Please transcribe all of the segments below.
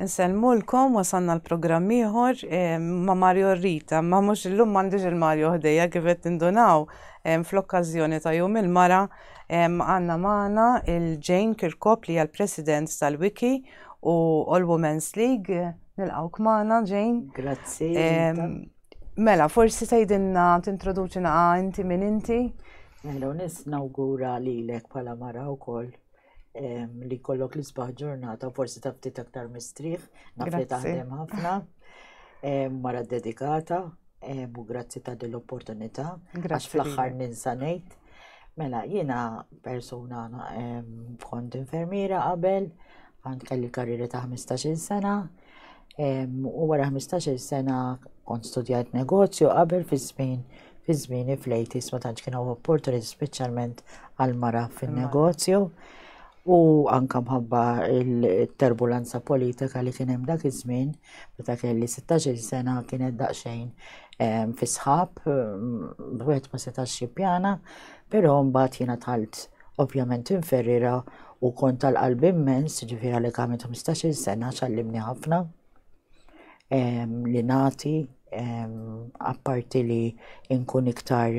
Nsellmulkom wasanna l-programm ieħor eh, ma' Mario Rita, ma mhux illum m'għandix il-Mario ħdejja kif qed tindunaw eh, fl-okkażjoni ta' jum il-mara eh, għandna magħna il-Jane Kirkop li hija l-President tal-Wiki u All Women's League. Nilqgħu kmana Jane. Grazzi. Mela, forsi tgħidilna tintroduċina inti minn inti? Mela, nis nawgura li lek pala mara u koll li kollok li sbaħ ġurnata, forsi ta' ftit aktar mistriħ, nafli taħdem ħafna, mara dedikata, u grazzi ta' dell-opportunità, għax fl-axħar ninsanejt. Mela, jina persona kont infermiera qabel, għand kelli karrieri ta' 15 sena, U wara 15-il sena kont studjajt negozju qabel fi żmien fi żmieni fl-80s ma tantx kienu opportunity speċjalment għal mara fin-negozju. U anka mħabba il-terbulanza politika li kien hemm dak iż-żmien, meta kelli 16-il sena kienet daqsxejn fis-sħab, wieħed ma setax jippjana, però mbagħad jiena tħalt Ovvjament Tim Ferreira u kont tal-qalb immens, ġifir għalli għamilt 15 sena ċallimni ħafna li nati apparti li nkun iktar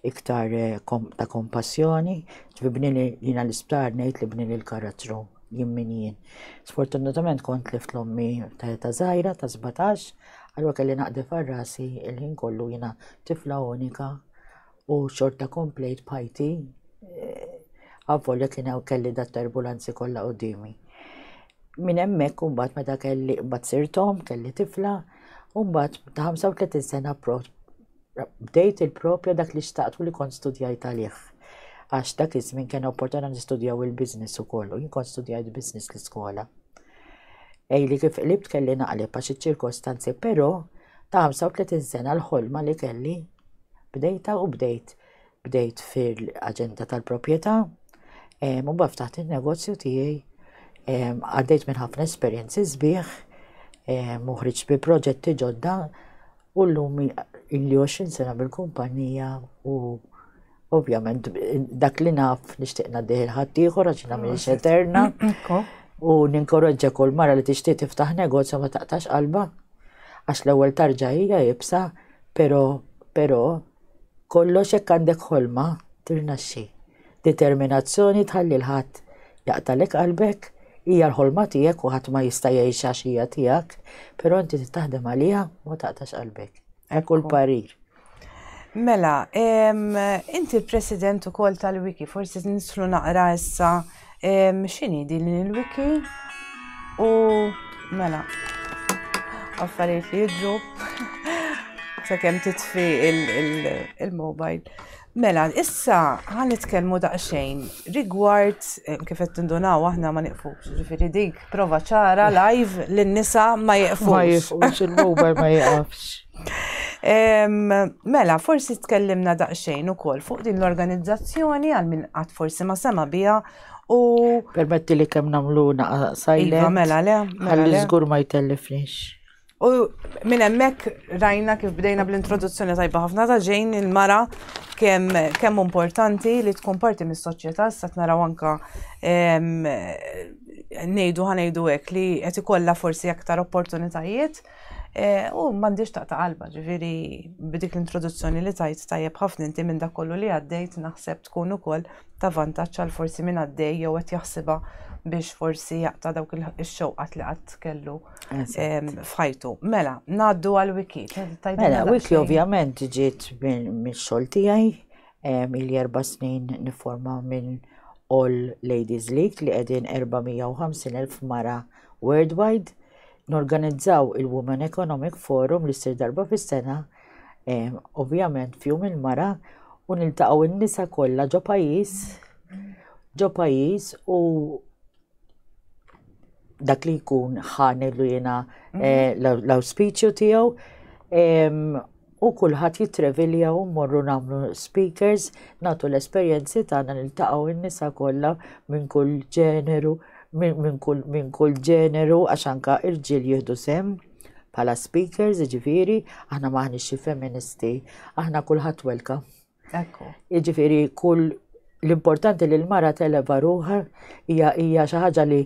iktar eh, ta' kompassjoni, ġifir bni li jina l-isptar nejt li bni li l-karattru jimmin jien. Sfortunatament kont lift l-ommi ta' zaħira ta' 17, għalwa kelli naqdi farrasi il-ħin kollu jina tifla unika u xorta komplejt bħajti għavvolja kien hawn kelli dat terbulanzi kollha qudiemi. Minn hemmhekk imbagħad meta kelli mbagħad sirtom, kelli tifla, u mbagħad ta' 35 sena prot bdejt il-propja dak li xtaqt u li kont studjajt għalih. Għax dak iż-żmien kien opportunità nistudjaw il-business ukoll u jien kont studjajt business l-iskola. Ej li kif qlibt kelli naqleb għax iċ-ċirkostanzi, però ta' 35 sena l-ħolma li kelli bdejta u bdejt bdejt fil-aġenda tal-proprjetà u baf taħt in-negozju tiegħi għaddejt minn ħafna esperjenzi sbieħ muħriġ bi proġetti ġodda u llum illi 20 sena bil-kumpanija u Ovvjament, dak li naf nixtieq ngħaddih il-ħadd ieħor għax jiena m'iniex eterna. U ninkoraġġa kull mara li tixtieq tiftaħ negozju ma taqtax qalba. Għax l-ewwel tarġa hija jibsa, però però kollox jekk għandek ħolma tirnaxxi. Determinazzjoni tħalli l-ħadd jaqtalek qalbek, hija l-ħolma tiegħek u ħadd ma jista' jgħixha x'hija tiegħek, però inti taħdem għaliha ma taqtax qalbek. Ekku l-parir. Mela, inti l-president ukoll tal-wiki, forsi nislu naqra issa x'inhi din il-wiki u mela affarijiet li jidru sakemm titfi il-mobile. Mela, issa ħan nitkellmu daqsxejn rigward eh, kif qed tindunaw aħna ma niqfux, ġifieri dik prova ċara live li nisa ma jiqfux. Ma jiqfux il-mobile ma jiqafx. Mela, forsi tkellimna daqsxejn ukoll fuq din l-organizzazzjoni għal min qatt forsi ma sema biha u. Permetti li kemm nagħmlu naqsajlek. Iva, mela le. Mela, ħalli żgur ma jtellifniex. U minn hemmhekk rajna kif bdejna bl-introduzzjoni tajba ħafna ta' ġejn il-mara kemm kemm importanti li tkun parti mis-soċjetà sa naraw anka ngħidu ħanejdu hekk li qed ikollha forsi aktar opportunitajiet eh, u m'għandix taqta' qalba ġifieri b'dik l-introduzzjoni li tajt tajjeb ħafna inti minn dak kollu li għaddejt naħseb tkun ukoll ta' vantaġġ għal forsi minn għaddej jew qed jaħsibha biex forsi jaqta' dawk ix-xewqat li qatt kellu. f'ħajtu. Mela, naddu għal wiki. Mela, wiki ovvjament ġiet minn xogħol tiegħi il erba snin niforma minn All Ladies League li qegħdin 450,000 mara worldwide. Norganizzaw il-Women Economic Forum li ssir darba fis-sena, ovvjament fjum il-mara u niltaqgħu n-nisa kollha ġo pajjiż ġo pajjiż u dak li jkun ħani li jena mhm. eh, l-auspiċju tiegħu u kulħadd jitrevilja u morru nagħmlu speakers nagħtu l-esperjenzi tagħna niltaqgħu n-nisa kollha minn kull ġeneru minn kull minn kull ġeneru għax anka irġiel jieħdu sem bħala speakers, ġifiri, aħna maħni xi feministi, aħna kulħadd welka. Ekku. Jiġifieri kull l-importanti li l-mara televa ruħa hija hija xi ħaġa li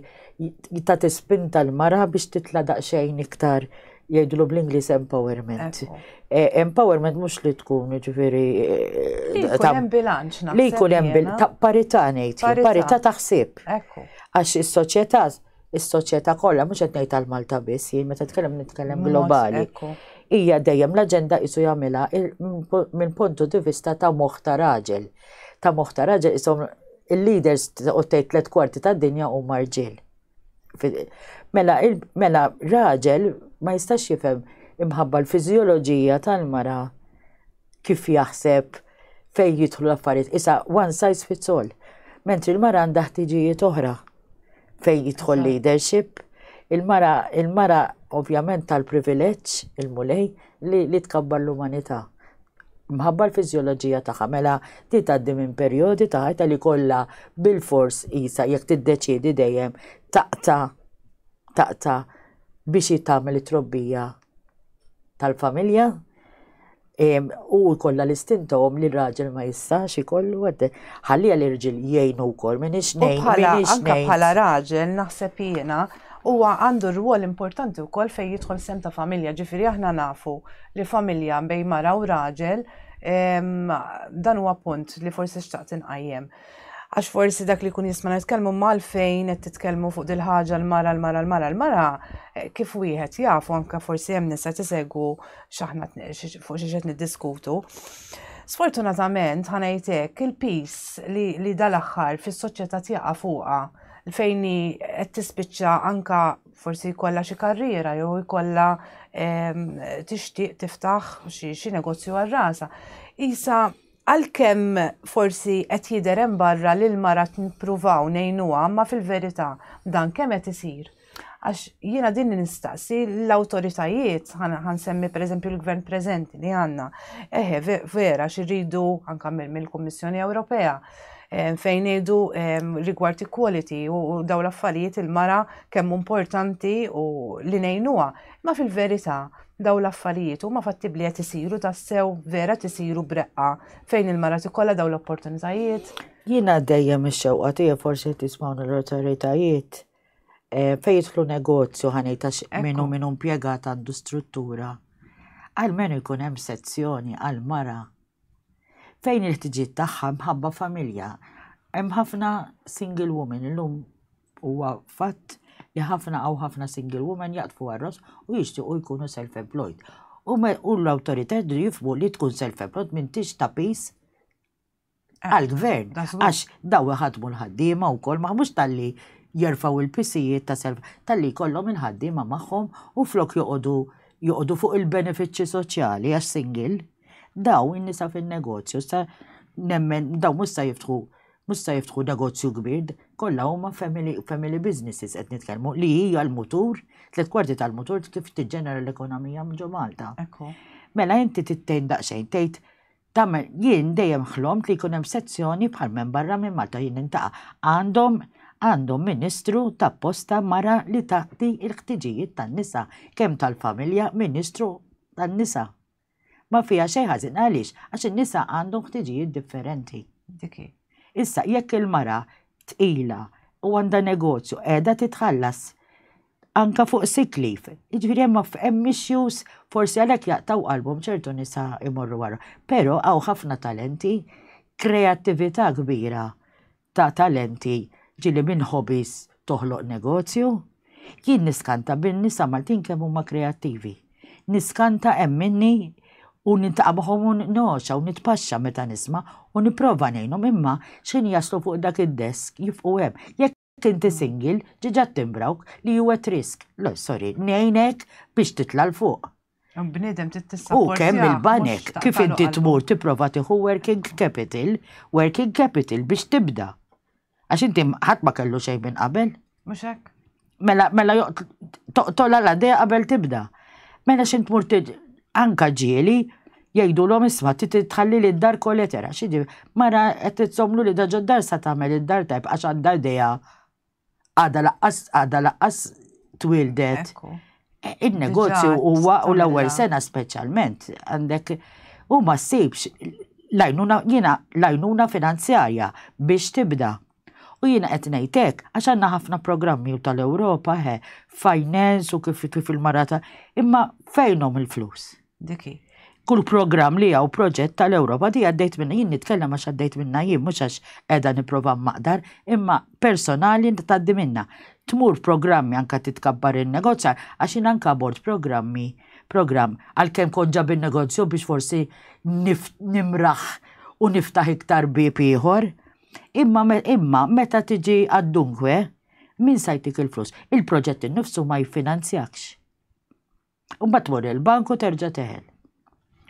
ta' tispinta l-mara biex titla' daqsxejn iktar jgħidlu bl-Inglis empowerment. Eh, empowerment mhux li tkun ġifieri. Eh, li jkun hemm bilanċ Li jkun hemm ta' parità ngħid, parità ta' ħsieb. Għax is-soċjetà is-soċjetà kollha mhux qed ngħid għal Malta biss, jien meta tkellem nitkellem globali. Hija dejjem l-aġenda qisu jagħmilha minn puntu di vista ta' moħħ ta' raġel. Ta' moħħ ta' raġel isom il-leaders u tgħid tliet kwarti tad-dinja huma rġiel. Mela, mela raġel ma jistax jifhem imħabba l-fiżjoloġija tal-mara kif jaħseb, fejn jidħlu l-affarijiet. Issa one size fits all. Mentri l-mara għandha ħtiġijiet oħra fejn jidħol leadership. Il-mara, il-mara ovvjament tal-privileġġ, il-mulej, li, li tkabbar l-umanità. Mħabba l-fizjoloġija tagħha mela ti tgħaddi minn perjodi ta' ħajta li kollha bil-fors isa jekk tiddeċiedi dejjem taqta' taqta' biex jitagħmel it-trobbija tal-familja u kollha l-istintom li raġel ma jistax ikollu għadde. Ħalli l-irġil jgħinu wkoll minn ix ngħin. Anka bħala raġel naħseb jiena huwa għandu rwol importanti wkoll fejn jidħol sem ta' familja, ġifieri aħna nafu li familja bej mara u raġel dan huwa punt li forsi xtaqt inqajjem. Għax forsi dak li jkun jisma' nitkellmu malfejn qed titkellmu fuq dil-ħaġa l-mara l-mara l-mara l-mara eh, kif wieħed jafu anke forsi hemm nisa tisegwu x'aħna fuq xi qed niddiskutu. Sfortunatament ħanajtek il-pis li, li dal-aħħar fis-soċjetà tjaqa' fuqha fejn qed tispiċċa anka forsi jkollha xi karriera jew jkollha ehm, tixtieq tiftaħ xi negozju għal rasa. Isa Għalkemm forsi qed jidher hemm barra li l-mara qed nippruvaw ngħinuha imma fil-verità dan kemm qed isir? Għax jiena din li nistaqsi l-awtoritajiet, ħa nsemmi pereżempju l-Gvern preżenti li għandna, eħe vera xi rridu anke mill-Kummissjoni Ewropea fejn ngħidu rigward equality u dawn l-affarijiet il-mara kemm hu importanti u li ngħinuha. Ma fil-verità, daw l-affarijiet huma fattibbli qed isiru tassew vera tisiru breqqa fejn il-mara tikollha daw l-opportunitajiet. Jiena dejjem ix-xewqa tiegħi forsi qed jismawna l-awtoritajiet eh, fejn jidħlu negozju ħanejta minnu minnu impjegat għandu struttura. Għalmenu jkun hemm sezzjoni għal-mara fejn il-ħtiġiet tagħha mħabba familja. Hemm ħafna single woman illum Huwa fatt li ħafna għaw ħafna single woman jaqtfu għarros u jixtiequ jkunu self-employed. U l-autorità jidri jifmu li tkun self-employed minn tix ta' pis eh, għal-gvern. Għax daw ħadmu l-ħaddima u kol maħmux tal-li jerfaw il-pisijiet ta' self tal-li kollom il-ħaddima maħħom u flok joqodu joqodu fuq il-benefiċċji soċjali għax single. Daw in-nisa fin-negozju sa nemmen daw musta jiftħu Mhux se jiftħu negozju kbir, kollha huma family, family businesses qed nitkellmu li hija l-mutur, tliet kwarti tal-mutur kif tiġġenera l-ekonomija ġo Malta. Ekku. Mela inti tittejn daqsxejn tgħid tagħmel jien dejjem ħlomt li jkun hemm sezzjoni bħal minn barra minn Malta jien nintaqa' għandhom għandhom ministru ta' posta mara li taqdi l-ħtiġijiet tan-nisa kemm tal-familja ministru tan-nisa. Ma fiha xejn ħażin għaliex? Għax in-nisa għandhom ħtiġijiet differenti. Dik hi. Issa jekk il-mara tqila u għandha negozju qiegħda titħallas anka fuq sick leave. Jiġifieri hemm hemm issues forsi għalhekk jaqtaw qalbhom ċertu nisa imorru wara. Però hawn ħafna talenti, kreattività kbira ta' talenti ġieli minn hobbies toħloq negozju. Jien niskanta bin-nisa Maltin kemm huma kreattivi. Niskanta hemm minni u niltaqa' magħhom u ngħoxa u nitpaxxa meta nisma' u nipprova ngħinhom imma x'ħin jaslu fuq dak id-desk jifqu hemm. Jekk inti single ġiġa ttimbrawk li hu at risk. Le, sorry, ngħinek biex titla' 'l fuq. Bnidem tittissaw. U kemm il-banek kif inti tmur tipprova tieħu working capital, working capital biex tibda. Għax inti ħadd ma kellu xejn minn qabel. Mhux hekk. Mela mela toqtol għal għaddej qabel tibda. Mela xi tmur anka ġieli jgħidu l-om isma titħalli li d-dar koletera. Xidi, mara qed titsomlu li daġa d-dar sa tagħmel id-dar tajb għax għandha idea għada laqqas għada laqqas twildet. E, il-negozju huwa u l-ewwel sena speċjalment għandek u ma ssibx lajnuna jiena lajnuna finanzjarja biex tibda. U jiena qed ngħidlek għax għandna ħafna programmi u tal-Ewropa he, finance u kif kif il-marata, imma fejnhom il-flus? Dik hi. Kull programm li hawn proġett tal-Ewropa di għaddejt minna jien nitkellem għax għaddejt minna jien mhux għax qiegħda nipprova maqdar imma personali tgħaddi minna. Tmur programmi anka titkabbar in-negozjar għax jien anka bord programmi programm għalkemm kont ġab in-negozju biex forsi nimraħ u niftaħ iktar bieb ieħor. Imma imma meta tiġi għad-dunkwe min sajtik il-flus. Il-proġett innifsu ma jiffinanzjakx. U mbagħad tmur il-bank u terġa' teħel.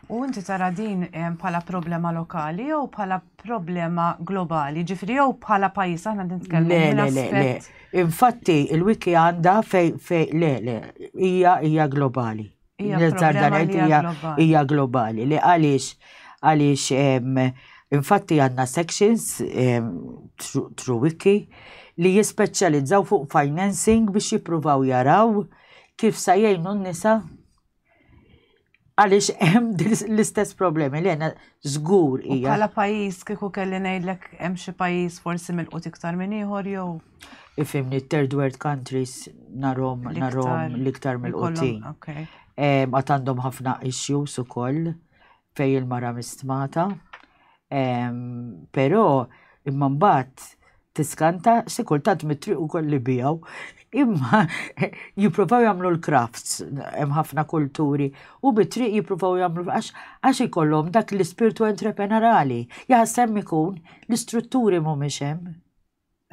U inti tara din eh, bħala problema lokali jew bħala problema globali, ġifri jew bħala pajis aħna nitkellmu. Le, le, le, le. Infatti, il-wiki għanda fej, fej, le, le, hija hija globali. Hija globali, li għaliex għaliex infatti għandna sections true wiki li jispeċjalizzaw fuq financing biex jippruvaw jaraw kif sa jgħinu n-nisa għaliex hemm l-istess problemi li għena żgur hija. Bħala pajjiż kieku kelli ngħidlek hemm xi pajjiż forsi mill-qut iktar minn ieħor jew. Ifimni third world countries narhom narhom l-iktar mill-qutin. Għat għandhom ħafna issues ukoll. fejn il-mara mistmata, però imma mbagħad tiskanta xi kultant mit-triq ukoll li bijaw. Imma jippruvaw jagħmlu l-crafts, hemm ħafna kulturi, u mit-triq jippruvaw jagħmlu għax ikollhom dak l-ispirtu entrepreneurali. Jaħseb ikun l-istrutturi mhumiex hemm.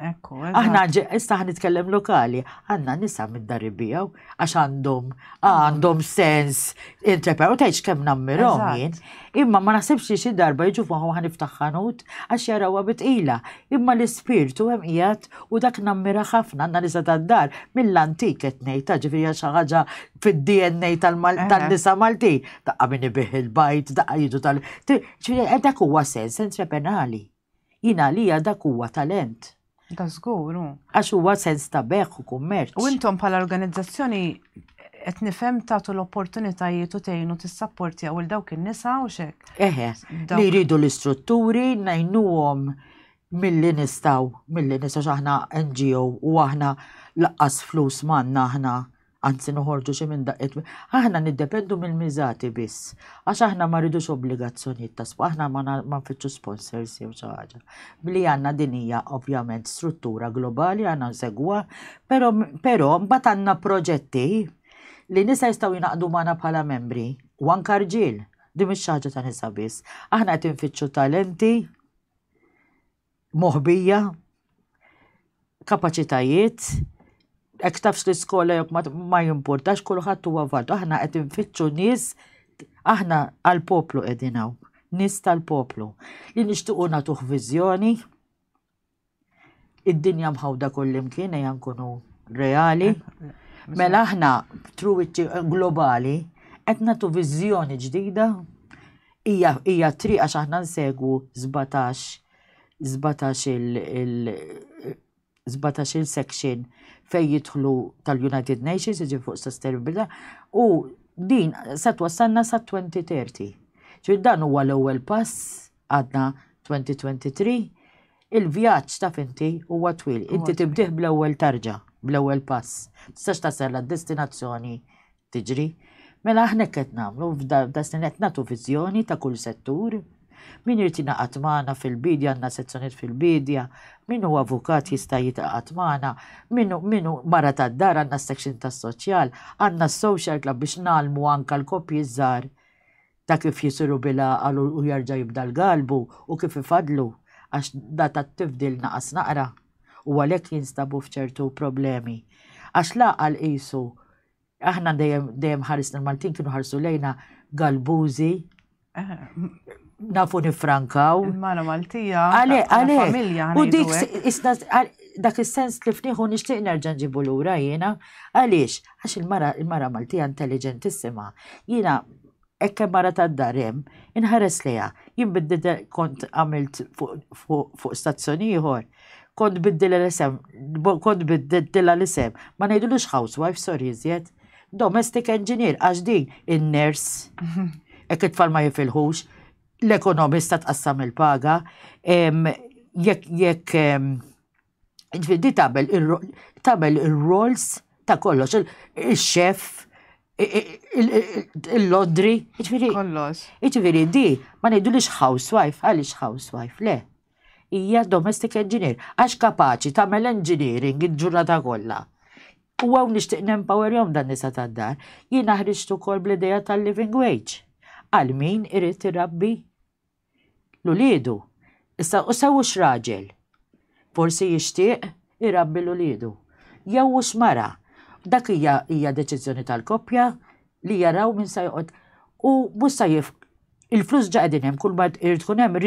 Ekku, Aħna issa ħan nitkellem lokali, għanna nisa mid-dar ibijaw, għax għandhom, għandhom sens interpret, u tajċ kem nammirom jien. Imma ma nasibx li xi darba jiġu fuq ħan iftaħħanut, għax jarawa bitqila. Imma l-ispirtu hemm qiegħed u dak nammira ħafna għandna nisa tad-dar mill-antik qed ngħid ta' ġifieri xi ħaġa fid-DNA tal-nisa Malti. Daqqa min ibih il-bajt, daqqa jidu tal. Dak huwa sens entrepenali. Jien għalija dak huwa talent. Da żgur hu. Għax huwa sens ta' beħ u kummerċ. U intom bħala organizzazzjoni qed nifhem tagħtu l-opportunitajiet u tgħinu tissapportjaw il dawk in-nisa u xek. Eħe, li jridu l-istrutturi, ngħinuhom milli nistaw, milli nistaw aħna NGO u aħna laqqas flus manna aħna anzi noħorġu xi minn daqqiet, aħna niddependu mill-miżati biss, għax aħna ma rridux obbligazzjonijiet ta' spa, aħna ma nfittxu sponsors jew xi ħaġa. Bli għandna din hija ovvjament struttura globali għandna nsegwa, però però mbagħad għandna proġetti li nisa jistgħu jingħaqdu magħna bħala membri u anke rġiel. Din mhix ħaġa ta' nisa biss. Aħna qed infittxu talenti moħbija, kapaċitajiet, hekk tafx l-iskola jekk ma jimpurtax kulħadd huwa vadu. Aħna qed infittxu nies aħna għall-poplu qegħdin hawn, nies tal-poplu li nixtiequ nagħtuh viżjoni. Id-dinja mħawda kullimkien ejja nkunu reali. Mela aħna truwiċċi globali qed nagħtu viżjoni ġdida Hija hija t-triq għax aħna nsegwu 17 17 il 17 il section fejn jidħlu tal-United Nations jiġi fuq sostenibilità u din se twassalna sa 2030. Ġifier dan huwa l-ewwel pass għadna 2023 il-vjaġġ ta' finti huwa twil. Inti tibdih bl-ewwel tarġa, bl-ewwel pass. Tistax tasal għad-destinazzjoni tiġri. Mela aħna hekk qed nagħmlu f'da snin qed nagħtu viżjoni ta' kull settur. Min irid jingħaqad magħna fil-bidja għandna sezzjoniet fil-bidja, min huwa avukat jista' jitqaqad magħna, min hu mara tad-dar għandna s-section tas-soċjal, għandna s-social club biex ngħallmu anke l-koppji ż-żgħar ta' kif jisiru bil-għaqal u jerġa' jibda l-galbu u kif ifadlu għax da tat-tifdil naqas naqra u għalhekk jinstabu f'ċertu problemi. Għax l-għaqal qisu Aħna dejjem dejjem ħarisna l-Maltin kienu ħarsu lejna galbużi. Eh, nafu nifrankaw. Mara Maltija. Għale, għale. U dik isna dak is-sens li fniħu nixtieq nerġa' nġibu lura jiena. Għaliex? Għax il-mara il-mara Maltija intelligentissima. Jiena Hekk hemm mara tad-dar hemm, inħares lejha. Jien biddil kont għamilt fuq stazzjon ieħor, kont biddilha l-isem, kont biddilha l-isem, ma ngħidulux housewife, sorry iżjed. Domestic engineer, għax din in-ners, hekk it-tfal ma jifilħux, l-ekonomista tqassam il-paga, jekk jekk Ġifieri di tagħmel tagħmel ir-roles ta' kollox, il-chef, il-lodri, ġifieri. Kollox. Ġifieri di ma ngħidulix housewife, għaliex housewife, le. Hija domestic engineer, għax kapaċi tagħmel engineering il-ġurnata kollha. U għaw nixtieq nempower jom dan nisa tad-dar, jiena ħriġt ukoll bl-idea tal-living wage. Għal min irid irabbi 'l uliedu, issa u sew hux raġel. Forsi jixtieq irabbi 'l uliedu. Jew hux mara. Dak hija hija deċiżjoni tal-koppja li jaraw min se joqgħod. U mhux se jif il-flus ġa qegħdin hemm kull ma irid tkun hemm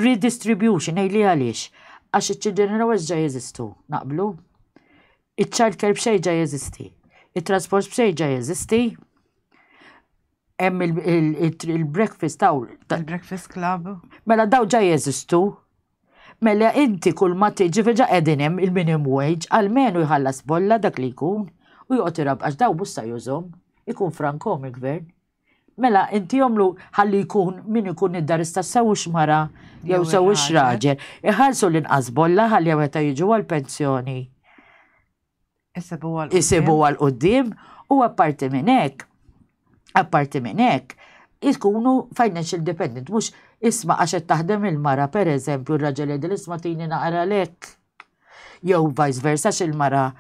redistribution ngħidli għaliex. Għax iċ-children allowance ġa jeżistu, naqblu? Iċ-child care b'xejn ġa jeżisti. It-transport b'xejn ġa jeżisti. Hemm il-breakfast taw. Il-breakfast club. Mela daw ġa jeżistu. Mela inti kull ma tiġi veġa qegħdin hemm il-minimum wage għalmenu jħallas bolla dak li jkun u joqgħod irab għax daw busta jużhom ikun frankom il-gvern. Mela inti jomlu ħalli jkun min ikun id-dar istess sew mara jew sew raġel. Iħallsu l-inqas bolla ħalli meta jiġu għal-pensjoni. isibuha l-qoddim u apparti minn hekk, apparti minn hekk, jkunu financial dependent, mhux isma' għax qed taħdem il-mara pereżempju r-raġel jgħidil isma' tini naqra lek. Jew vice versa x'il-mara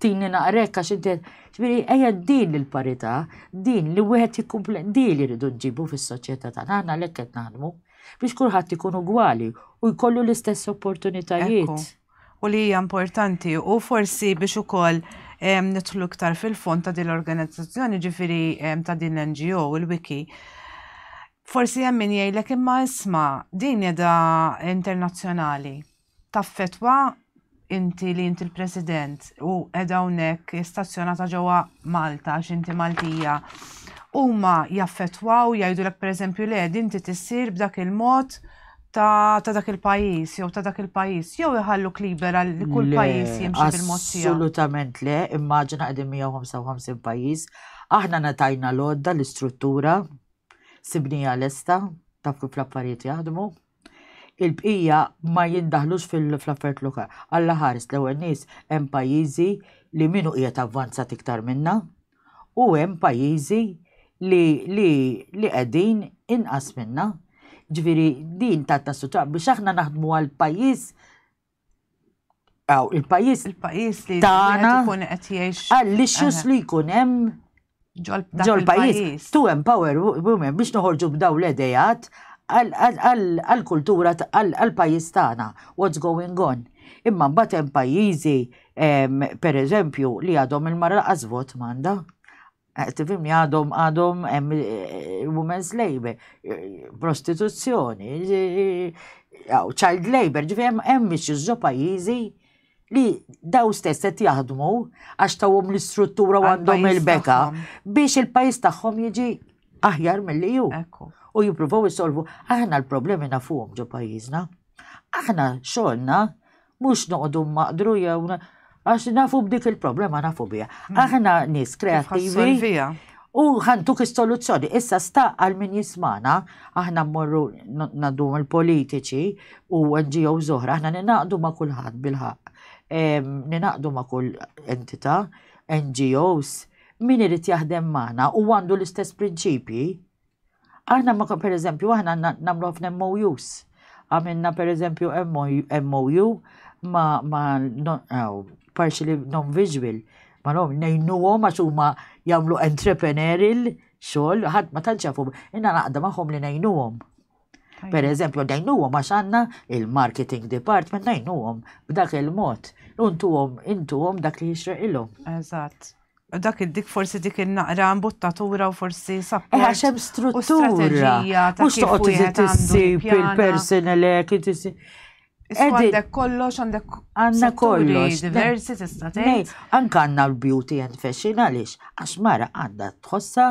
tini naqrek għax inti ġifieri ejja din il-parità, din li wieħed jikkumple din li rridu nġibu fis-soċjetà tagħna aħna lek qed naħdmu biex kulħadd ikun ugwali u jkollu l-istess opportunitajiet. u li hija importanti u forsi biex ukoll nidħlu iktar fil-fond ta' din l-organizzazzjoni ġifiri ta' din l-NGO, il-Wiki. Forsi hemm min jgħidlek imma isma' din edha internazzjonali. Taffetwa inti li inti l-President u edha hawnhekk stazzjonata ġewwa Malta għax inti Maltija. Huma jaffetwaw jgħidulek pereżempju le din tissir b'dak il-mod ta' dak il-pajis, jew ta' dak il-pajis, jew iħalluk libera li kull pajis jimxi bil-mod tiegħu. Assolutament le, immaġina qegħdin 155 pajis, aħna natajna l-odda l-istruttura sibnija lesta ta' kif l-affarijiet jaħdmu. Il-bqija ma jindaħlux fil-affarijiet lokal. Alla ħares l-ewwel nies hemm pajjiżi li minu qiegħed avvanzat iktar minna, u hemm pajjiżi li li li qegħdin inqas minna. Ġifieri din ta' ta' sutra biex aħna naħdmu għal pajjiż Aw, il-pajjiż il-pajjiż li tagħna jkun qed jgħix għall-issues li jkun hemm ġol pajjiż to empower women biex noħorġu b'daw l-edejat għall-kultura għall-pajjiż tagħna, what's going on. Imma mbagħad hemm pajjiżi per eżempju, li għadhom il-mara laqas vot manda. Eh, tifim li għadhom għadhom eh, women's labor, eh, prostituzzjoni, child labor, ġifim hemm biex iżżo pajjiżi li daw stess qed jaħdmu għax tawhom l-istruttura għandhom il-beka biex il-pajjiż tagħhom jiġi aħjar mill-li ju. U jippruvaw isolvu aħna l-problemi nafuhom ġo pajjiżna. Aħna xogħolna mhux noqogħdu maqdru jew għax nafu b'dik il-problema nafu biha. Hmm. Aħna nies kreattivi u ħantuk is-soluzzjoni. Issa sta għal min jismana, aħna mmorru naddu l-politiċi u NGO zoħra, aħna ninaqdu ma' kulħadd bil-ħaq. Ninaqdu ma' kull entità, NGOs, min irid jaħdem magħna u għandu l-istess prinċipji Aħna ma per eżempju, aħna namlu ħafna MOUs. Għamilna per eżempju MOU ma, ma non, oh, partially non-visual. Ma nom, nejnu għom għax huma jamlu entrepreneurial xogħol, ħadd ma tantx jafu, inna naqda magħhom li nejnu għom. Per eżempju, dajnuhom għax għandna il-marketing department dajnuhom b'dak il-mod. Untuhom intuhom dak li jixreq ilhom. Eżatt. Dak dik forsi dik il-naqra mbuttatura u forsi sapport. Eħa xem struttura. Mux toqgħod iżid issib il-personal Għandek kollox, għandek għanna kollox. Diversi tista' tgħid. Anka għandna l-beauty and fashion għaliex għax mara għandha tħossha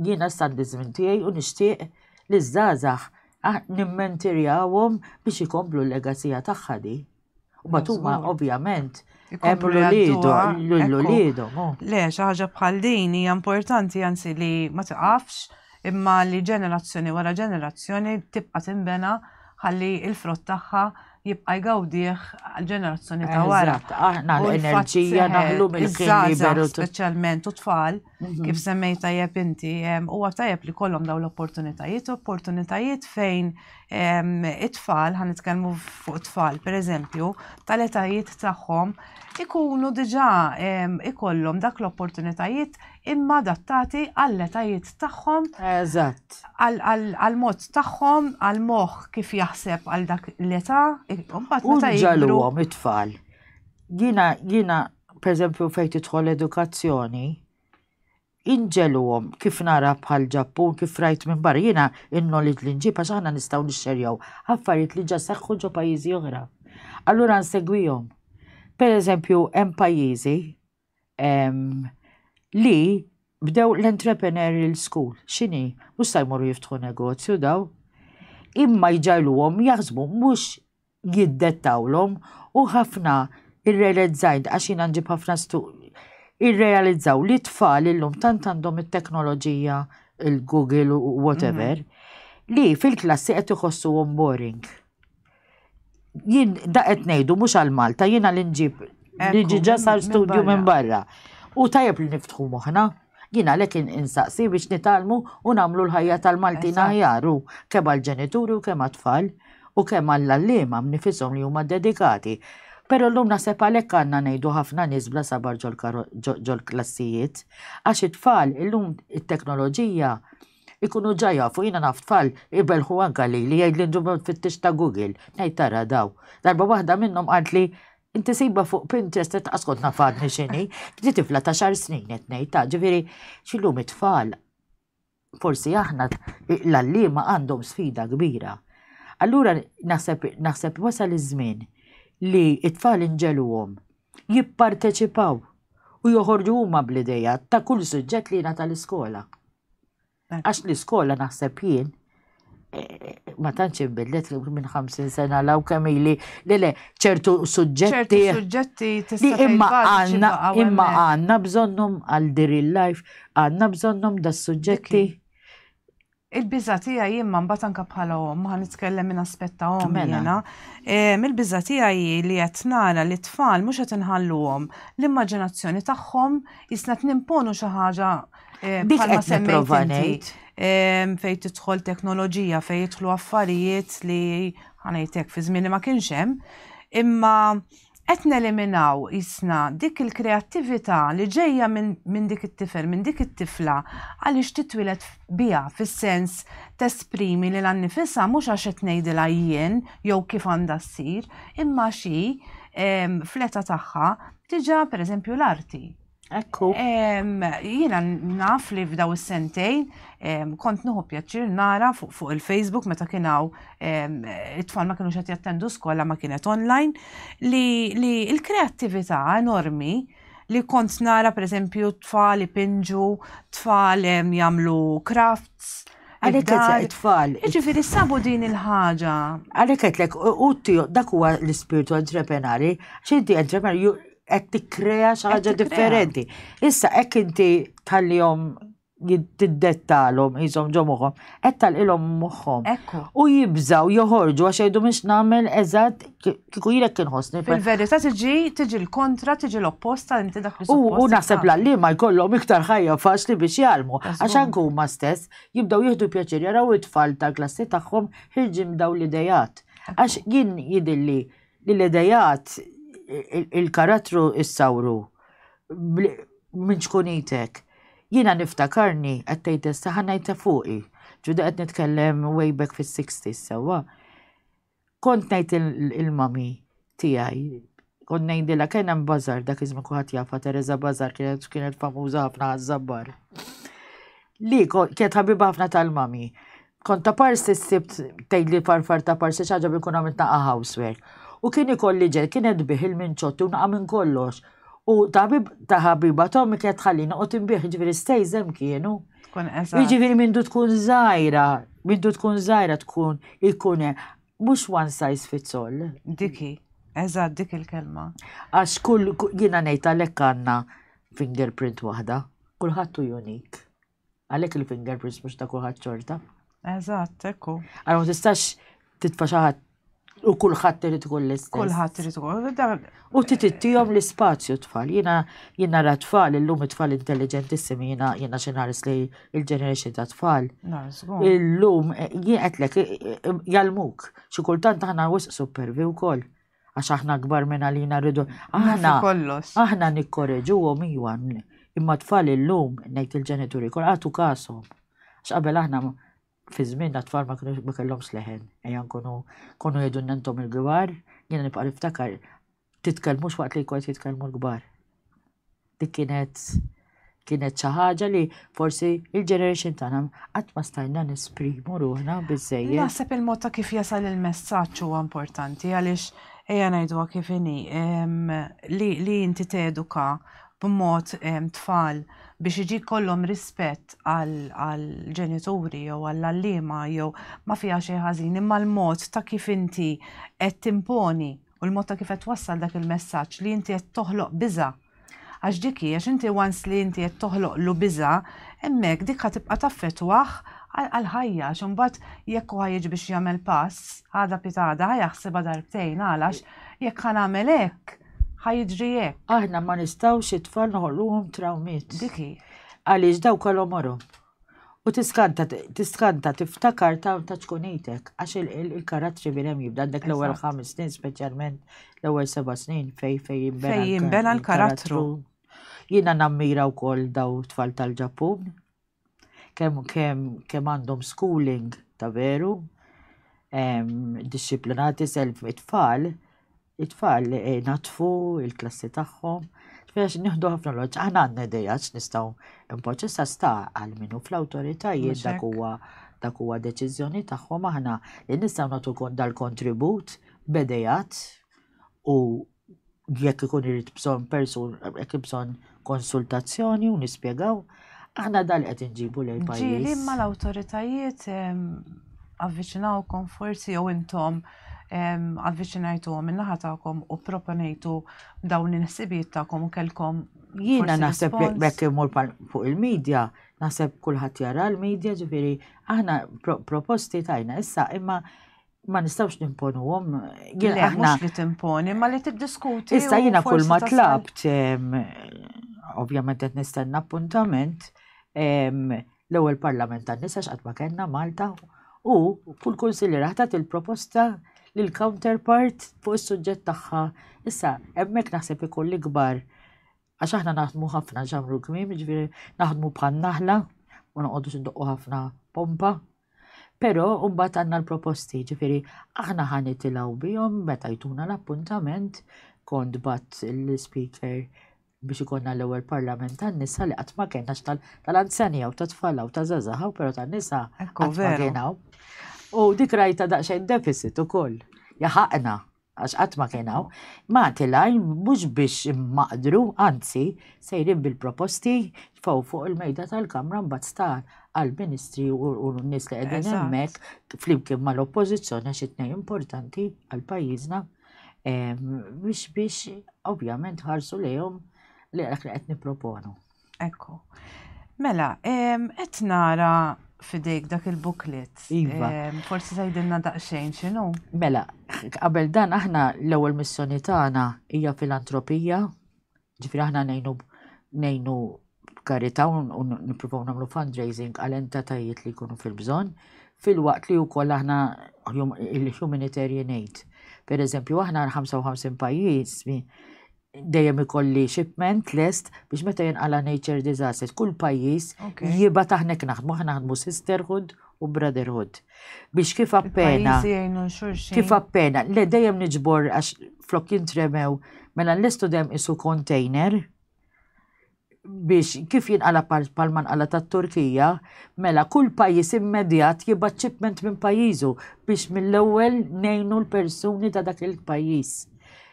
Jiena s-saddiżm tiegħi u nixtieq li ż-żgħażagħ nimmentirjawhom biex ikomplu l-legacija tagħha di. U bat huma ovvjament hemm l-uliedhom. Oh. Le, xi ħaġa bħal din hija importanti anzi li ma tiqafx imma li ġenerazzjoni wara ġenerazzjoni tibqa' tinbena ħalli il-frott tagħha jibqa' jgawdih ġenerazzjoni ta' wara. Aħna l-enerġija naħlu mill-ħin liberu. Speċjalment u tfal Mhm. kif semmej tajjeb inti, huwa tajjeb li kollhom daw l-opportunitajiet, opportunitajiet fejn it-tfal, ħan nitkellmu fuq tfal, per eżempju, tal-etajiet tagħhom ikunu diġà ikollhom dak l-opportunitajiet imma adattati għall-etajiet tagħhom. Eżatt. Għal-mod tagħhom, għal-moħħ kif jaħseb għal dak l-età, imbagħad meta jgħidulhom it-tfal Jiena, jiena, per eżempju, fejn tidħol edukazzjoni, inġeluhom kif nara bħal ġappun kif rajt minn barra jiena in-knowledge li nġib għax aħna nistgħu nixxerjaw affarijiet li ġa seħħu ġo pajjiżi oħra. Allura nsegwihom. Per eżempju, hemm pajjiżi li bdew l-entrepreneurial school, x'inhi, mhux se jmorru jiftħu negozju daw. Imma jġajluhom jaħsbu mhux jiddettawlhom u ħafna irrelezzajt għax jiena nġib ħafna stu irrealizzaw li tfal illum tant għandhom it-teknoloġija il-Google u whatever mhm. li fil-klassi qed iħossuhom boring. Jien da qed ngħidu mhux għal Malta jiena li nġib li ġiġa sar studju minn barra. U tajjeb li niftħu moħħna. Jien għalhekk in- insaqsi biex nitgħallmu u nagħmlu l-ħajja tal-Maltin Eżatt. aħjar u kemm għall-ġenituri u kemm għat-tfal u kemm għall-għalliema b'nifishom li huma dedikati. Però llum naħseb għalhekk għandna ngħidu ħafna nies bla sabar ġol-karo ġo ġol-klassijiet għax it-tfal illum it-teknoloġija ikunu ġa jafu jiena naf tfal ibelħu anka lili jgħidli nġibhom tfittix ta' Google ngħid tara daw. Darba waħda minnhom qaltli Inti sibha fuq Pinterest qed ascot nafadni x'inhi, di tifla ta' xar snin qed ngħid ta' ġifieri x'illum it-tfal forsi aħna l-għalliema għandhom sfida kbira. Allura naħseb naħseb wasal iż-żmien li t-tfal inġeluhom jipparteċipaw u joħorġu huma bl-idejat ta' kull suġġett li jingħata l-iskola. Għax l-iskola naħseb jien eh, ma tantx inbidlet minn 50 sena law kemm ili le le ċertu suġġetti suġġetti li imma għandna imma għandna bżonnhom għal dir il-life għandna bżonnhom da suġġetti Il-biża tiegħi jien ma mbagħad anke bħala omm ma nitkellem minn aspetta omm mela. jiena. Ehm, il-biża tiegħi li qed nara li tfal mhux qed inħalluhom l-immaġinazzjoni tagħhom jisna nimponu xi ħaġa Eh, Dik bħalma qed nipprova semmejt inti, ngħid. em, fej tidħol teknoloġija, fej jidħlu affarijiet li ħanajtek fi żmien li ma kienx hemm, imma qed neliminaw isna dik il-kreattività li ġejja minn min dik it-tifel, minn dik it-tifla għaliex titwilet biha fis-sens tesprimi li l-annifisa mhux għax qed ngħidilha jien jew kif għandha ssir, imma xi em, fleta tagħha diġà pereżempju l-arti. Ekku. Jiena naf li f'daw is-sentejn kont nuħu pjaċir nara fuq il-Facebook meta kien hawn it-tfal ma kienu qed jattendu skola ma kienet online li l-kreattività enormi li kont nara pereżempju tfal ipinġu, tfal jagħmlu crafts, Għalek għetlek tfal. Ġifiri sabu din il-ħaġa. Għalek għetlek, u dak huwa l-ispirtu entrepenari, xinti entrepenari, qed tikkrea xi ħaġa differenti. Issa hekk inti tħallihom tiddettalhom jisom ġo moħħom, qed talqilhom moħħom. U jibżaw joħorġu għax jgħidu mhux nagħmel eżatt kieku jilek kien ħossni. Fil-verità tiġi tiġi l-kontra, tiġi l-opposta li inti dak U naħseb l ma jkollhom iktar ħajja faċli biex jgħalmu. Għax anke huma stess jibdew jieħdu pjaċir jaraw it-tfal tal-klassi tagħhom ħirġin daw l-idejat. Għax jien jidilli li l-idejat, il-karattru issawru minn ċkunitek. Jiena niftakarni, qed tgħid issa, ħa ngħid ta' fuqi, ġuda qed nitkellem way back fis-sixties sewwa. Kont ngħid il-mami tiegħi, kont ngħidilha kien hemm bażar dak iż-żmien kulħadd jafha Teresa Bażar kienet kienet famuża ħafna għaż-żabbar. Li kienet ħabiba ħafna tal-mummy. Kont ta' parsi s-sibt tgħidli farfar ta' parsi xi ħaġa bienkun għamilt naqa' housework. U kien ikolli ġel, kien qed bih il-minċotti u naqa' minn kollox. U ta' ħabib ta' ħabiba t'ommi kienet tħalli noqgħod inbih, jiġifieri stejż hemm kienu. Tkun eżatt. Jiġifieri mindu tkun żgħira, mindu tkun żgħira tkun ikun hemm. Mhux one size fits all. Dik hi. Eżatt dik il-kelma. Għax kull jiena ngħid għalhekk għandna fingerprint waħda. Kulħadd hu unique. Għalhekk il-fingerprints mhux ta' kulħadd xorta. Eżatt, ekku. Għalhom tistax titfa xi ħadd u kulħadd irid ikun l-istess. Kulħadd irid ikun. U titittihom l-ispazju tfal. Jiena jien nara tfal illum it-tfal intelligentissimi jiena jiena xi nħares li l-ġeneration ta' tfal. Illum eh, jien qedlek eh, eh, jalmuk. Xi kultant aħna wisq supervi wkoll. għax aħna akbar minn għalina rridu. Aħna kollox. Aħna nikkoreġu għom iwan. Imma tfal illum ngħid il-ġenituri kol għatu kasom. Għax qabel aħna fi żmien tfal ma kienux ma kellhomx leħen. Ejja nkunu konu jgħidu nentom il-gbar, jiena nibqa' niftakar titkellmux waqt li jkun jitkellmu l-gbar. Dik kienet kienet xi ħaġa li forsi il-generation tagħna qatt ma stajna nesprimu ruħna biżejjed. Naħseb il-mod ta' kif jasal il-messaġġ huwa importanti għaliex ejja ngħidu kif inhi li inti teduka b'mod tfal biex iġi kollhom rispett għal ġenituri jew għall allima jew ma fiha xi ħażin imma l-mod ta' kif inti qed timponi u l-mod ta' kif qed twassal dak il-messaġġ li inti qed toħloq biża' għax dik hi għax inti once li inti qed toħloqlu biża' hemmhekk dik ħa tibqa' taffettwah għall-ħajja għax imbagħad jekk hu jiġi biex jagħmel pass għada pitgħada ħa jaħsibha darbtejn għalax jekk ħa nagħmel hekk ħa jiġri hekk. Aħna ma nistgħux it-tfal noħolquhom trawmiet. Dik hi. Għaliex daw kolhom morhom. U tiskanta, tiskanta, tiftakar ta' ta' tkunitek, għax il-karattri minn hemm jibda għandek l-ewwel ħames snin, speċjalment l-ewwel seba' snin fej fej jimbena. Fej jimbena l-karattru. Jiena nammira wkoll daw tfal tal-Ġappun. Kemm kemm kemm għandhom schooling ta' veru, disciplinati self it-tfal, it-tfal eh, natfu il-klassi tagħhom. Għax nieħdu ħafna loġġ, aħna għandna idea x'nistgħu impoġġu sa sta għal minu fl-awtoritajiet dak huwa dak huwa deċiżjoni tagħhom aħna li nistgħu nagħtu dal-kontribut bedejat u jekk ikun irid bżonn persun jekk bżonn konsultazzjoni u nispjegaw aħna dal qed inġibu lejn pajjiż. Ġieli ma l-awtoritajiet avviċinawkom forsi jew intom avviċinajtu minnaħa tagħkom u proponejtu dawn l-inħsibijiet tagħkom u kelkom Jiena naħseb bekk imur fuq il-medja, naħseb kulħadd jara l-medja ġifieri aħna proposti tajna issa imma ma nistawx nimponuhom. Jien mhux li timponi, ma li tiddiskuti. Issa jiena kull ma tlabt, ovvjament qed nistenna appuntament, l-ewwel parlament tan-nisa x'qatt ma kellna Malta u kull kunsilliera ħatat il-proposta lil counterpart fuq is-suġġett tagħha. Issa hemmhekk naħseb ikun l-ikbar Għax aħna naħdmu ħafna ġamru kmim, ġviri naħdmu bħal naħla, u noqogħdu xinduqqu ħafna pompa. Pero mbagħad għandna l-proposti, ġifiri, aħna ħan itilaw bihom meta jtuna l-appuntament kont bat l-speaker biex ikonna l-ewwel parlament tan-nisa li qatt ma kien għax tal-anzjani jew tat-tfal u ta' żazaħaw però tan-nisa qatt ma kien U dik rajta daqsxejn deficit ukoll. Jaħaqna għax qatt ma kien hawn, Malti Line mhux biex maqdru, anzi, sejrin bil-proposti tfgħu fuq il-mejda tal-Kamra mbagħad sta għall-Ministri u n-nies li qegħdin hemmhekk flimkien mal-Oppożizzjoni għax it-tnejn importanti għal pajjiżna biex biex ovvjament ħarsu lejhom li qed nipproponu. Ekku. Mela, qed nara fidejk dak il-booklet. Iva. Forsi tgħidilna daqsxejn x'inhu? Mela, qabel dan aħna l-ewwel missjoni tagħna hija filantropija, ġifieri aħna ngħinu ngħinu b'karità u nippruvaw nagħmlu fundraising għal entatajiet li jkunu fil-bżonn, fil-waqt li wkoll aħna il-humanitarian aid. Per eżempju, aħna 55 pajjiż dejjem ikolli shipment lest biex meta jinqala nature disasters, kull pajjiż jiba taħnek naħdmu, aħna naħdmu sisterhood u brotherhood. Biex kif appena. Kif appena, le dejjem niġbor għax flok jintremew, mela l-istudem isu container, biex kif jinqala bħal manqala tat-Turkija, mela kull pajjiż immedjat jibgħat ċipment minn pajjiżu biex mill-ewwel ngħinu l-persuni ta' dak il-pajjiż.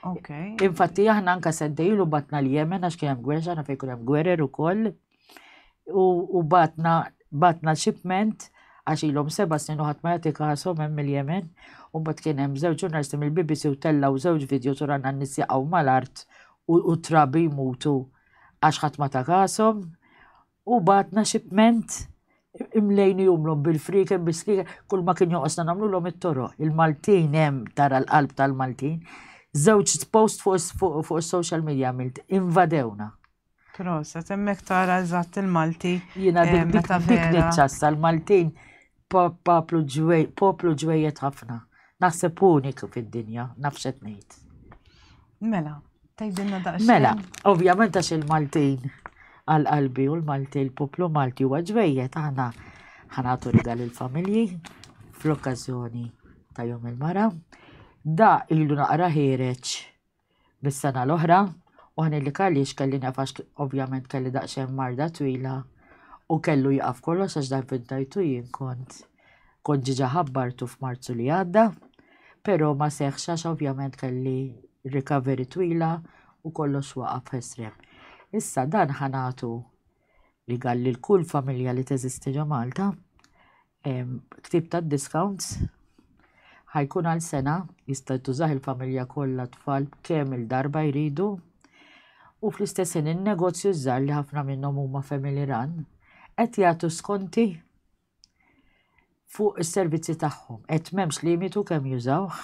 Okay. Infatti aħna anka seddejlu batna l-Jemen għax kien hemm gwerra, aħna fejn hemm gwerer ukoll. U batna batna ċipment għax ilhom seba' snin u ħadd ma jagħti kasom hemm il-Jemen. U mbagħad kien hemm żewġ ġurnalisti mill-BBC u tellaw żewġ video turanna n-nies jaqgħu mal-art u t-trabi jmutu għax ħadd ma ta kashom u bagħatna xipment imlejn jumlhom bil-frieken bis-slieka kull ma kien joqosna nagħmlulhom it-toroq. Il-Maltin hemm tara l-qalb tal-Maltin. Żewġ post fuq is-social media għamilt invadewna. Prosa, temmek tara eżatt il-Malti. Jiena dik dik dik ċassa l-Maltin poplu ġwej, poplu ġwejjed ħafna. Naħseb uniku fid-dinja, nafxet ngħid. Mela, tgħidilna daqsxejn. Mela, ovvjament għax il-Maltin għal qalbi u l-Malti l-poplu Malti huwa ġwejjed aħna ħanatu rigal il-familji fl-okkażjoni ta' jum il-mara. Da ilu naqra ħireċ mis-sena l-oħra u ħanillik għaliex kelli nefax ovvjament kelli daqsxejn marda twila u kellu jaqaf kollox għax dan vintajtu jien kont kont ġiġa ħabbartu f'Marzu li għadda, però ma seħx għax ovvjament kelli recovery twila u kollox waqaf f'esrem. Issa dan ħanatu li galli l-kull familja li teżisti ġo Malta Ktib ta' discounts ħajkun għal sena jista' tużah il-familja kollha tfal kemm il-darba jridu u fl-istess ħin in-negozju żgħar li ħafna minnhom huma family run qed jagħtu skonti fuq is-servizzi tagħhom qed m'hemmx limitu kemm jużawh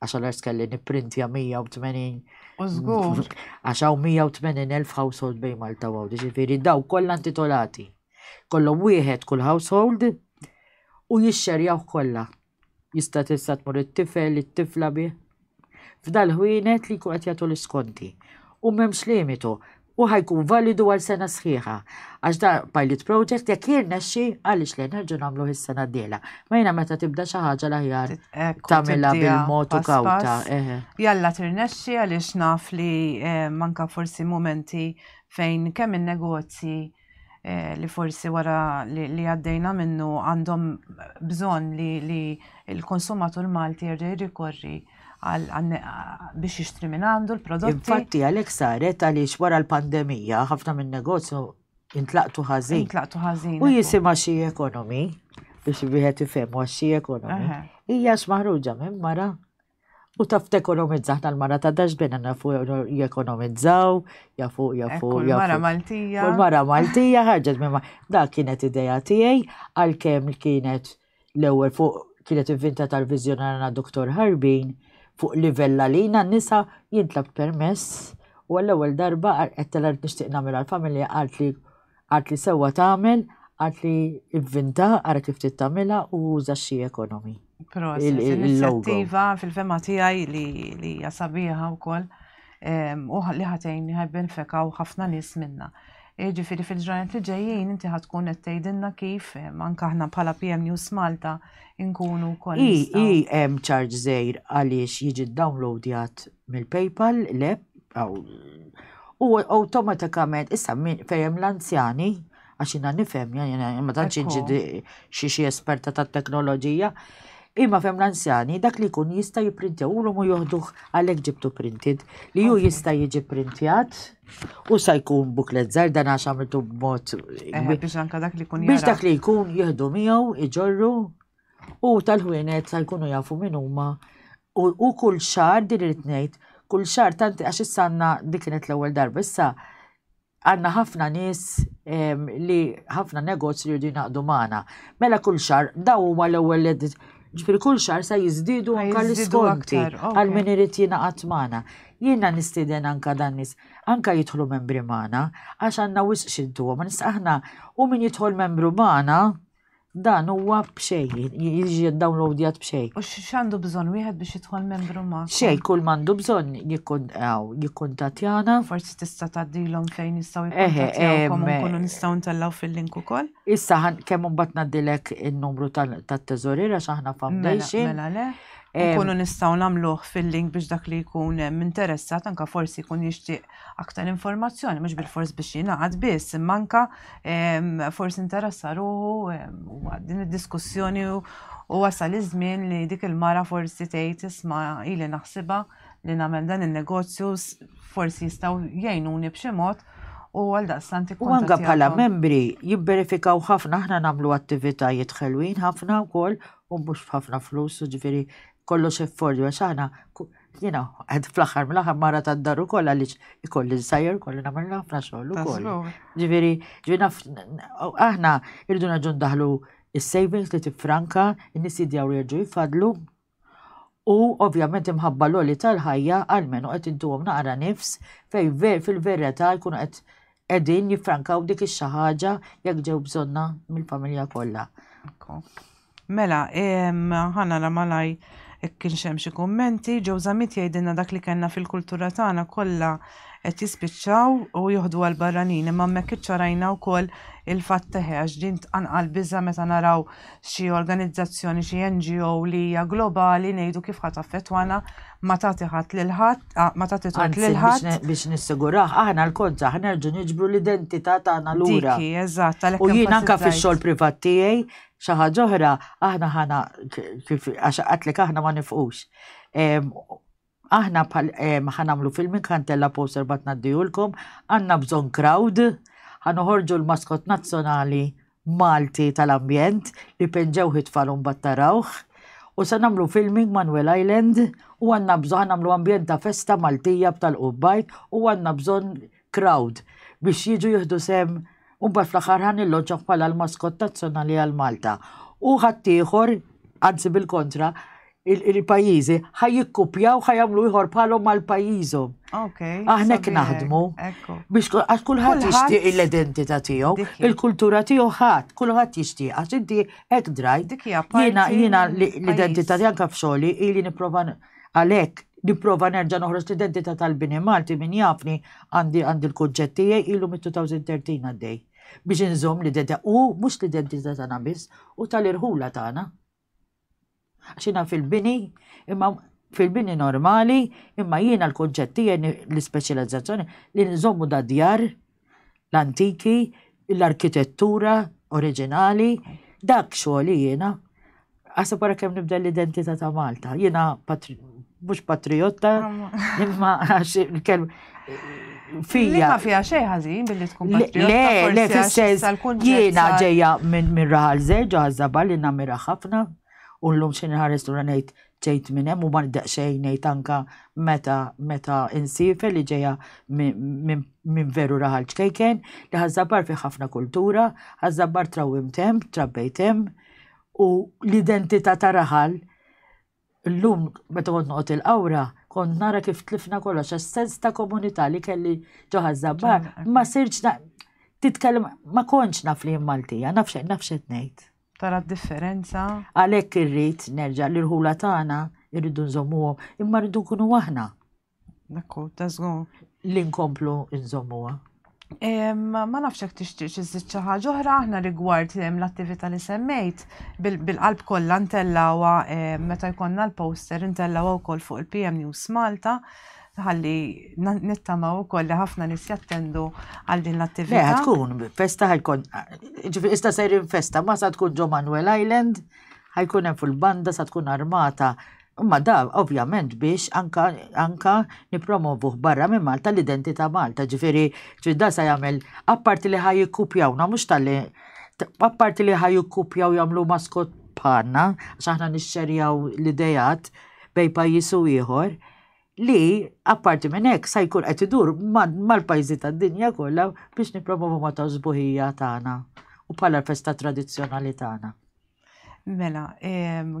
għax għal kelli nipprintja 180. U żgur. Għax hawn 180,000 household bejn Malta u Għawdex, ġifieri daw kollha intitolati. Kollhom wieħed kull household u jixxerjaw kollha. Jista' tista' tmur it-tifel, it-tifla bih. F'dal ħwienet li jkun qed jagħtu l-iskonti. U m'hemmx limitu. u ħa jkun validu għal sena sħiħa. Għax da pilot project jekk jirnexxi għaliex le nerġgħu nagħmluh is-sena d-dieħla. Ma jiena meta tibda xi ħaġa l-aħjar tagħmilha bil-mod u kawta. Jalla tirnexxi għaliex naf li manka forsi momenti fejn kemm in-negozji Eh, li forsi wara li għaddejna minnu għandhom bżon li il-konsumatur Malti jerġa' jirrikorri biex jixtri minn għandu l-prodotti. Infatti għalhekk saret għaliex wara l-pandemija ħafna minn negozju intlaqtu ħażin. Intlaqtu ħażin. U jisimha xi ekonomi biex wieħed ifhem għax xi ekonomi. Hija x'maħruġa minn mara U taf tekonomizza ħna l-mara ta' dax bina nafu jekonomizzaw, jafu, jafu, jafu. Mara Maltija. Mara Maltija ħarġet minn da kienet ideja tiegħi għalkemm kienet l-ewwel fuq kienet inventa tal-vizjonarna Dr. Harbin fuq livella li jina nisa jintlab permess u għall-ewwel darba għal qed nixtieq nagħmilha l-familja għalt li Għad li sewwa tagħmel, għad li vvinta, ara kif trid tagħmilha u uża xi ekonomi. Proset, inizjattiva fil-fema tiegħi li hija sabiħa wkoll u li ħatejn ħajben fekaw ħafna nies minna. E, ġifiri fil-ġranet li ġejjin inti ħatkun qed tgħidilna kif anke aħna bħala PM News Malta nkunu wkoll. I hemm charge żejr għaliex jiġi downloadjat mill-PayPal l-app U awtomatikament, issa min fejem l-anzjani, għax jina nifhem, jina ma tantx inġidi xi xi esperta tat-teknoloġija, imma fem l-anzjani dak li jkun jista' jipprintjaw u l-mu joħduh għalhekk ġibtu printed li ju jista' jiġi printjat u sa jkun buklet żgħar dan għax għamiltu b'mod eh, biex anka dak li jkun biex dak li jkun jieħdu miegħu iġorru u tal-ħwienet sa jkunu jafu min huma u kull xar din irid ngħid kull xar tanti għax issa għandna dik kienet l-ewwel darba issa għandna ħafna nies li ħafna negozji li jridu jnaqdu magħna. Mela kull xar daw huma l-ewwel edit ġifir kull xar sa jiżdiedu anka l-iskonti għal min irid jingħaqad magħna. Jiena nistieden anka dan nies anka jidħlu membri magħna għax għandna wisq xintu ma nista' aħna u min jidħol membru magħna Dan huwa b'xej, jiġi downloadjat b'xej. U x'għandu bżonn wieħed biex jidħol membru ma? Xej, kull m'għandu bżonn jikkuntatjana. Forsi tista' tgħaddilhom fejn jistgħu jikkuntatjawkom u nkunu nistgħu ntellgħu fil-link ukoll. Issa kemm imbagħad ngħaddilek in-numru tat-teżorier għax aħna mela, foundation. Mela le. Nkunu nistgħu nagħmluh fil-link biex dak li jkun interessat anke forsi jkun jixtieq aktar informazzjoni, mhux bil-fors biex jingħad biss, imma anka forsi interessa ruħu din id-diskussjoni u wasal iż-żmien li dik il-mara forsi tgħid isma' ili naħsibha li nagħmel dan in-negozju forsi jistgħu jgħinuni b'xi mod u għal daqstant U anka bħala membri jibberifikaw ħafna aħna nagħmlu attivitajiet ħelwin ħafna wkoll u mhux ħafna flus, ġifieri kollox effordju għax aħna Jiena qed fl-aħħar mill-aħħar mara tad-dar ukoll għaliex ikolli nsajjer kolli nagħmel ħafna xogħol ukoll. Ġifieri, ġifieri aħna irridu naġun daħlu is-savings li tifranka, in-nies jidjaw li jerġgħu jifadlu. U ovvjament imħabba l-oli tal-ħajja għalmenu qed intuhom naqra nifs fejn fil-verità jkunu qed qegħdin jiffrankaw dik ix-xi ħaġa jekk ġew bżonna mill-familja kollha. Mela, ħana la malaj kien xem xi kummenti, ġew żamiet jgħidilna dak li kellna fil-kultura tagħna kollha qed jispiċċaw u joħdu għal barranin imma hemmhekk iċċarajna wkoll il-fatt teħe għax din tqanqal biża meta naraw xi organizzazzjoni xi NGO li hija globali ngħidu kif ħadd affettwana ma tagħti ħadd lil ħadd, ah, ma tagħti tort Anzi, lil biex, ħadd. ne- biex nissiguraħ, aħna l-kont saħ nerġu niġbru l-identità tagħna lura. Diki, eżatt, għalhekk U jien anka enfasizzajt. fix-xogħol privat tiegħi xi ħaġa oħra aħna ħana k- kif għax qatlek aħna ma nifqux. Em, Aħna bħal em, ħanamlu filmin kantella poster bat naddijulkom, għandna bżonn crowd, ħanoħorġu l-maskot nazzjonali Malti tal-ambjent li peġġewh it-tfal u mbagħad tarawh. U se nagħmlu filming ma' Nwell Island u għandna bżonn ħa nagħmlu ambjent ta' festa Maltija b'tal-qubbajt u għandna bżonn crowd biex jiġu jieħdu sehem u mbagħad fl-aħħar ħa nilloġġawh bħala l-maskott nazzjonali għal Malta. U ħaddieħor, anzi bil-kontra, il-pajjiżi ħaj jikkupjaw ħaj jagħmlu ieħor bħalhom mal pajjiżhom. Okay. Aħna hekk naħdmu. Biex għax kulħadd jixtieq l-identità tiegħu, il-kultura tiegħu ħadd, kulħadd jixtieq għax inti hekk drajt. Jiena jiena l-identità tiegħek anke f'xogħli ili nipprova għalhekk nipprova nerġa' noħroġ l-identità tal-bini Malti min jafni għandi għandi l-kunċett tiegħi ilu mit-2013 għaddej biex inżomm l-identità u mhux l-identità tagħna biss u tal-irħula tagħna. Xina fil-bini, imma fil-bini normali, imma jiena l-konċetti l-ispeċjalizzazzjoni li nżommu da djar l-antiki, l-arkitettura oriġinali, dak xogħli jiena. Għasa para kem nibda l-identità ta' Malta, jiena mhux patriotta, imma għax il-kelma fija. Ma fija xej ħażin billi tkun patriot. Le, le, fil-sens, jiena ġeja minn mirraħal zeġ, għazzaba li namira ħafna, u l-lum xin ħares tu ranajt ġejt minn hemm u ma niddeq xejn ngħid anka meta meta insife li ġejja minn veru raħal ċkejken li ħażabar fi ħafna kultura, ħażabar trawim tem, trabbejt hemm u l-identità ta' raħal Illum meta kont noqgħod il-qawra, kont nara kif tlifna kollox għax sens ta' komunità li kelli ġo ħaż-żabbar, ma sirtx titkellem ma kontx naf li Maltija, naf xejn naf x'qed ngħid. Tara d-differenza. Għalhekk irrid nerġa' l-irħula tagħna irridu nżommuhom, imma rridu nkunu aħna. Dakku, ta' żgur. Li nkomplu nżommuha. Ma nafx hekk tixtieq iżid xi ħaġa oħra aħna rigward l-attività li semmejt bil-qalb kollha ntellawha meta jkollna l-poster ntellawha wkoll fuq il-PM News Malta ħalli nittamaw ukoll li ħafna nis jattendu għal din l-attività. Le, tkun festa ħajkun, ġifri ista sejrin festa, ma sa tkun ġo Manuel Island, ħajkun hemm fil-banda sa tkun armata Imma da ovvjament biex anka, anka nipromovuh barra minn Malta l-identità Malta, ġifiri, ġifiri da sa jagħmel apparti li ħaj jikkupjawna mhux tal-li apparti li ħaj jikkupjaw jagħmlu maskot bħalna, għax aħna nixxerjaw l-idejat bej pajjiż u ieħor, li apparti minn hekk sa jkun qed idur mal-pajjiżi tad-dinja kollha biex nippromovu ma' ta' sbuħija tagħna u bħala l-festa tradizzjonali tagħna. Mela,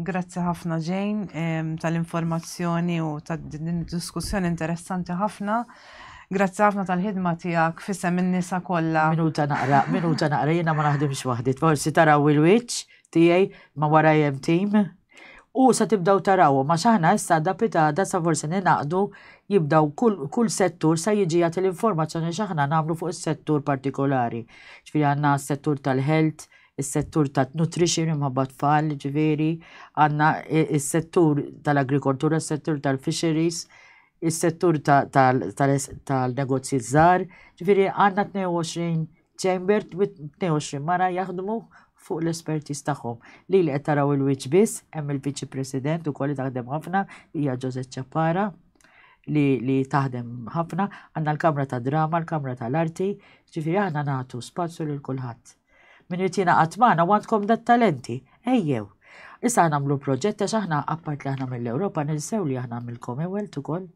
grazzi ħafna ġejn tal-informazzjoni u tad-diskussjoni interessanti ħafna. Grazzi ħafna tal-ħidma tiegħek fisem in-nisa kollha. Minuta naqra, minuta naqra, jiena ma naħdimx waħdi. Forsi taraw il-wiċċ tiegħi ma wara jem tim. U sa tibdaw taraw, ma xaħna issa da pitada sa forsi ninaqdu jibdaw kull settur sa jiġi jagħti l-informazzjoni xaħna nagħmlu fuq is-settur partikolari. Ġifieri għandna s-settur tal-health, is-settur tan-nutrition imħabba tfal, ġifieri għandna is-settur tal-agrikoltura, is-settur tal-fisheries, is-settur tal-negozji żgħar, ġifieri għandna 22 chamber u 22 mara jaħdmu fuq l-espertiż tagħhom. Li li qed taraw il-wiċċ biss, hemm il-Viċi President ukoll li taħdem ħafna, hija Ġożett Ċappara li taħdem ħafna, għandna l-Kamra tad-Drama, l-Kamra tal-Arti, ġifieri aħna nagħtu spazju lil kulħadd. Min irid jingħaqad magħna u għandkom dat talenti, ejjew. Issa aħna nagħmlu proġett għax aħna appart li aħna mill-Ewropa nilsew li aħna mill-Commonwealth ukoll.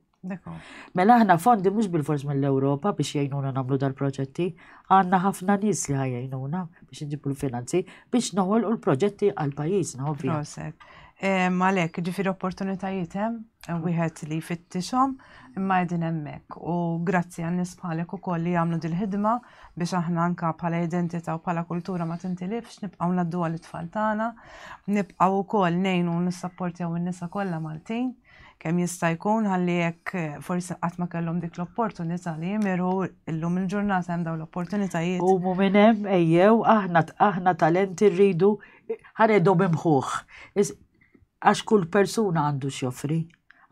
Mela aħna fondi mhux bil-fors mill-Ewropa biex jgħinuna nagħmlu dal-proġetti, għandna ħafna nies li ħajjnuna biex nġibu l-finanzi biex noħolqu l-proġetti għal pajjiżna ovvjament. Malek, ġifieri opportunitajiet hemm? wieħed li jfittixhom imma qegħdin hemmhekk u grazzi għan nies bħalek ukoll li jagħmlu dil-ħidma biex aħna anka bħala identità u bħala kultura ma tintilifx, nibqgħu naddu għal it-tfal tagħna, nibqgħu wkoll ngħinu nissapportjaw in-nisa kollha Maltin kemm jista' jkun ħalli jekk eh, forsi qatt ma kellhom dik l-opportunità li jimiru illum il-ġurnata hemm dawn l-opportunitajiet. U minn hemm ejjew aħna aħna talenti rridu ħanedhom imħuħ. għax kull persuna għandu x'joffri.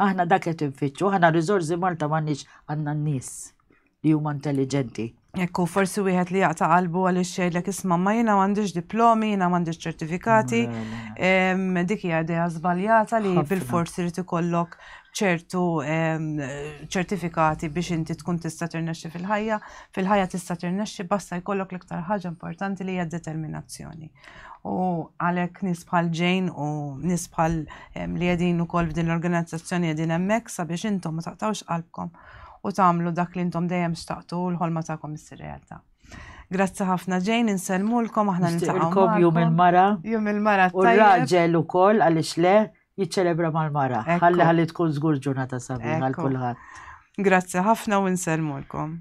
Aħna dak qed infittxu, aħna riżorsi Malta m'għandniex għandna n-nies li huma intelliġenti. Jekk hu forsi wieħed li jaqta' qalbu għaliex jgħidlek isma' ma jiena m'għandix diplomi, jiena m'għandix ċertifikati, dik hija idea żbaljata li bil-fors irid ikollok ċertu ċertifikati biex inti tkun tista' tirnexxi fil-ħajja, fil-ħajja tista' tirnexxi basta jkollok l-iktar ħaġa importanti li hija determinazzjoni. u għalek nisbħal ġejn u nisbħal li jedin u kol f'din l-organizzazzjoni jedin emmek sabiex intom ma taqtawx qalbkom u tamlu dak li intom dejjem xtaqtu u l-ħolma ta'kom issir realtà. Grazzi ħafna ġejn, inselmulkom aħna nintaqgħu. Jum il-mara. Jum il-mara. U raġel ukoll għaliex le jiċċelebra mal-mara. Ħalli ħalli tkun żgur ġurnata sabiħa għal kulħadd. Grazzi ħafna u nselmulkom.